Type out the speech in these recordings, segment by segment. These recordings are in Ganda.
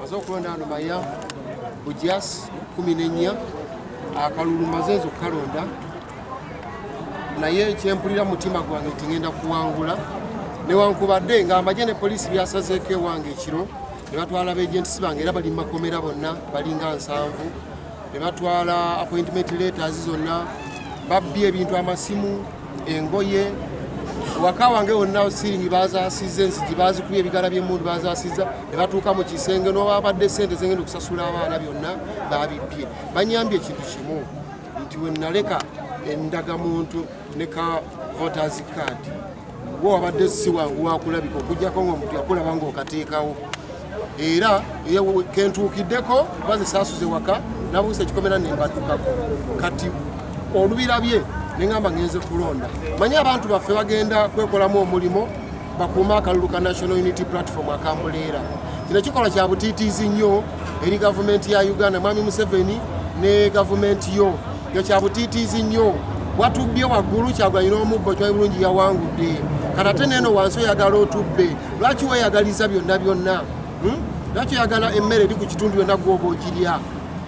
maze okulonda ano maya bujas kumi nenya akalulu maze nze okukalonda naye kyempulira mutima gwange nti ngenda kuwangula newankubadde nga amagye ne poliisi byasazeeko ewange ekiro ne batwala begentis bange era bali mumakomera bonna balinga nsanvu ne batwala appointment letters zonna babbye ebintu amasimu engoye waka wange wonna siringi bazasizza enzigi bazikuba ebigala byemundu bazasizza ne batuuka mu kisenge n'obabadde sente zengenda okusasula abaana byonna babibbye banyambye ekintu kimu nti wenaleka endagamuntu ne ka voters card gwe wabadde si wangu wakulabika okujjako ngaomuntu yakulaba ngaokateekawo era kentuukiddeko kuba zisaasuze waka nabuusa ekikomera nembatukako kati olubirabye neŋamba ngenze kulonda manye abantu baffe bagenda kwekolamu omulimu bakuuma akalulu ka national unity platform akambuleera kino kikolwa kya butiitiizi nnyo eri gavumenti ya uganda mwami museveni ne gavumenti yo kyo kya butiitiizi nnyo watubbye waggulu kyagwanyina omuggo kyayi bulungi yawangudde kanate neeno wansi oyagala otubbe lwaki weyagaliza byonna byonna hmm? lwaki oyagala emmere eri ku kitundu yonna gwoba ogirya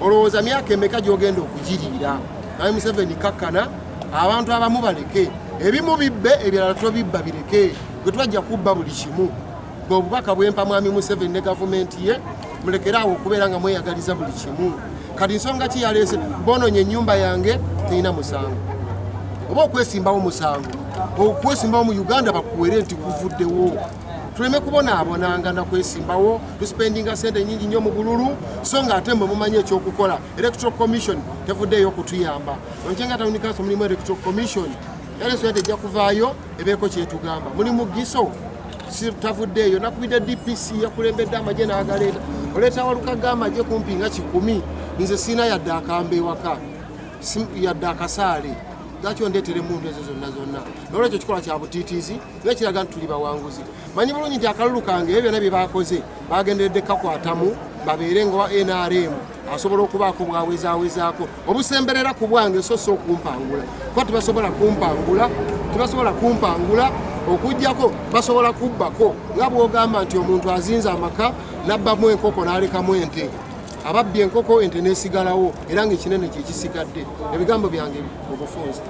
olowooza myaka emeka gyogenda okugiriira naye museveni kakkana abantu abamu baleke ebimu bibbe ebirala tobibba bireke gwe twajja kubba buli kimu bwe obubaka bwempa mwami museveni ne gavumenti ye mulekeraawo okubeera nga mweyagaliza buli kimu kati nsonga ki yaleese bononye enyumba yange terina musango oba okwesimbawo musango okwesimbawo mu uganda bakuwere nti kuvuddewo tuleme kubonaabonanga nakwesimbawo tuspendinga sente nyingi nyo mu bululu so nga ate mwe mumanyi ekyokukola electoral commission tevuddeeyo okutuyamba onkyenga tawunikaso mulimu electoral commission era ensonga tejja kuvaayo ebeeko kyetugamba muli mugiso sitavuddeeyo nakubidde dpc yakulembedde amagye n'agaleeta oleeta waluka g'amagye kumpi nga kikumi nze siina yadde akamba ewaka yadde akasaale lwaki ondeetera emundu ezo zonna zonna nolwekyo kikola kya butiitiizi naye kiraga nti tuli bawanguzi manyi bulungi nti akalulu kange ebyo byonna bye baakoze bagenderedde kakwatamu babeere nga nrm asobola okubaako bwawezawezaako obusemberera ku bwange so si okumpangula kuba tebasobola kumpangula tebasobola kumpangula okujjako basobola kubbako nga bwogamba nti omuntu azinze amaka nabbamu enkoko n'alekamu ente ababbye enkoko ente nesigalawo era nga ekinene kyekisigadde ebigambo byange obufunzi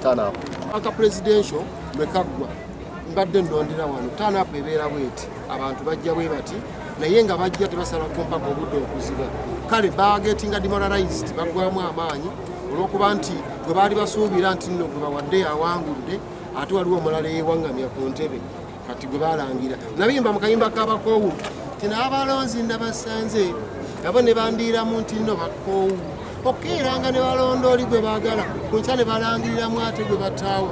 aka presidential lwekaggwa mbadde nondera wano tanapu ebeera bweti abantu bajja bwe bati naye nga bajja tebasala kumpaka obudde okuziba kale bagetinga demoralized bagwamu amaanyi olwokuba nti gwe baali basuubira nti nno gwe bawadde awangudde ate waliwo omulala eyewaŋŋamya ku ntebe kati gwe balangira nabiyimba mu kayimba kabakoowu ti n'abalonzi nabasanze abo ne bandiiramu nti nno bakoowu okukeeranga ne balonda oli gwe baagala ku nkya ne balangiriramu ate gwe bataawa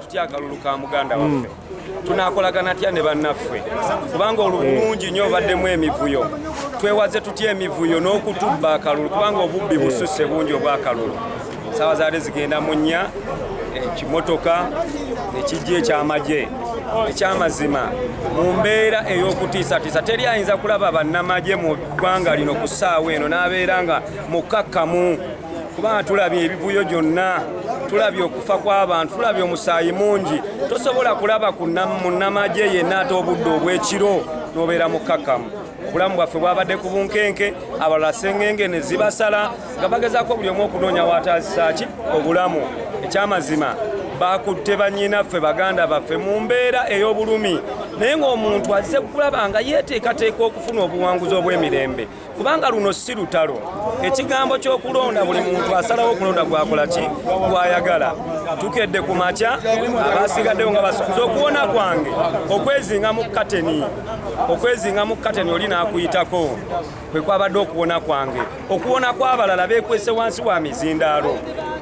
Tutya akalulu ka muganda waffe tunakolagana tya ne bannaffe kubanga olubungi nyo obaddemu emivuyo twewaze tutya emivuyo n'okutubba akalulu kubanga obubbi bususe bungi obw'akalulu sawa zaali zigenda mu nnya ekimotoka ekijja ekyamagye ekyamazima mu mbeera ey'okutiisatiisa teri ayinza kulaba bannamagye mu ggwanga lino ku ssaawa eno n'abeera nga mukkakkamu kubanga tulabye ebivuyo gyonna tulabye okufa kw'abantu tulabye omusaayi mungi tosobola kulaba ku munnamagye yenna ate obudde obw'ekiro n'obeera mukkakkamu obulamu bwaffe bwabadde ku bunkenke abalala sengenge ne zibasala nga bagezaako buli omu okunoonya wataazisa ki obulamu ekyamazima bakutte banyinaffe baganda baffe mu mbeera ey'obulumi naye ng'omuntu azze kulaba nga yeeteekateeka okufuna obuwanguzi obw'emirembe kubanga luno si lutalo ekigambo ky'okulonda buli muntu asalawo okulonda gwakola ki gwayagala tukedde ku makya abasigaddewo nga basukuza okuwona kwange okwezinga mu kateni okwezinga mu kateni oli n'akuyitako kwe kwabadde okuwona kwange okuwona kw'abalala beekwese wansi wa mizindaalo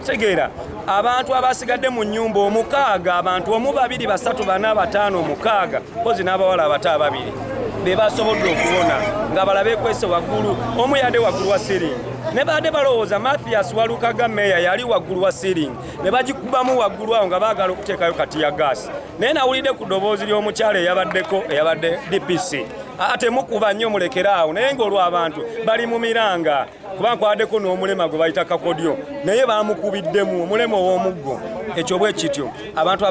tegeera abantu abasigadde mu nnyumba omukaaga abantu omu babiri basatu bana bataano omukaaga mpozi n'abawala abato ababiri be basobodde okuwona nga bala beekwese waggulu omu yadde waggulu wa siringi ne baadde balowooza mathias walukaga meeya yali waggulu wa siringi ne bagikubamu waggulu awo nga baagala okuteekayo kati ya gaasi naye nawulidde ku ddoboozi ly'omukyalo eyabaddeko eyabadde dpc aa temukuba nnyo mulekere awo naye ngaolw abantu bali mu miranga kuba nkwadeko n'omulema gwe bayita kakodyo naye bamukubiddemu omulema ow'omuggo ekyo bwe kityo abantu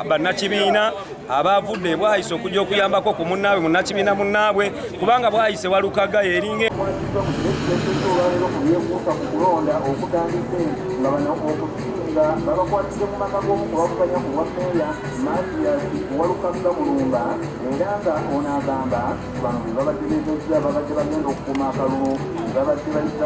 bannakibiina abaavudde bwayise okujja okuyambako ku munnaabwe munnakibiina munnaabwe kubanga bwayise walukaga yeringa nga babakwatidde mu maka g'omu ku bavuganya ku bwammeeya Mathias Walukagga Mulumba era nga ono agamba bano be babategeezezza babadde bagenda okukuuma akalulu babadde bayita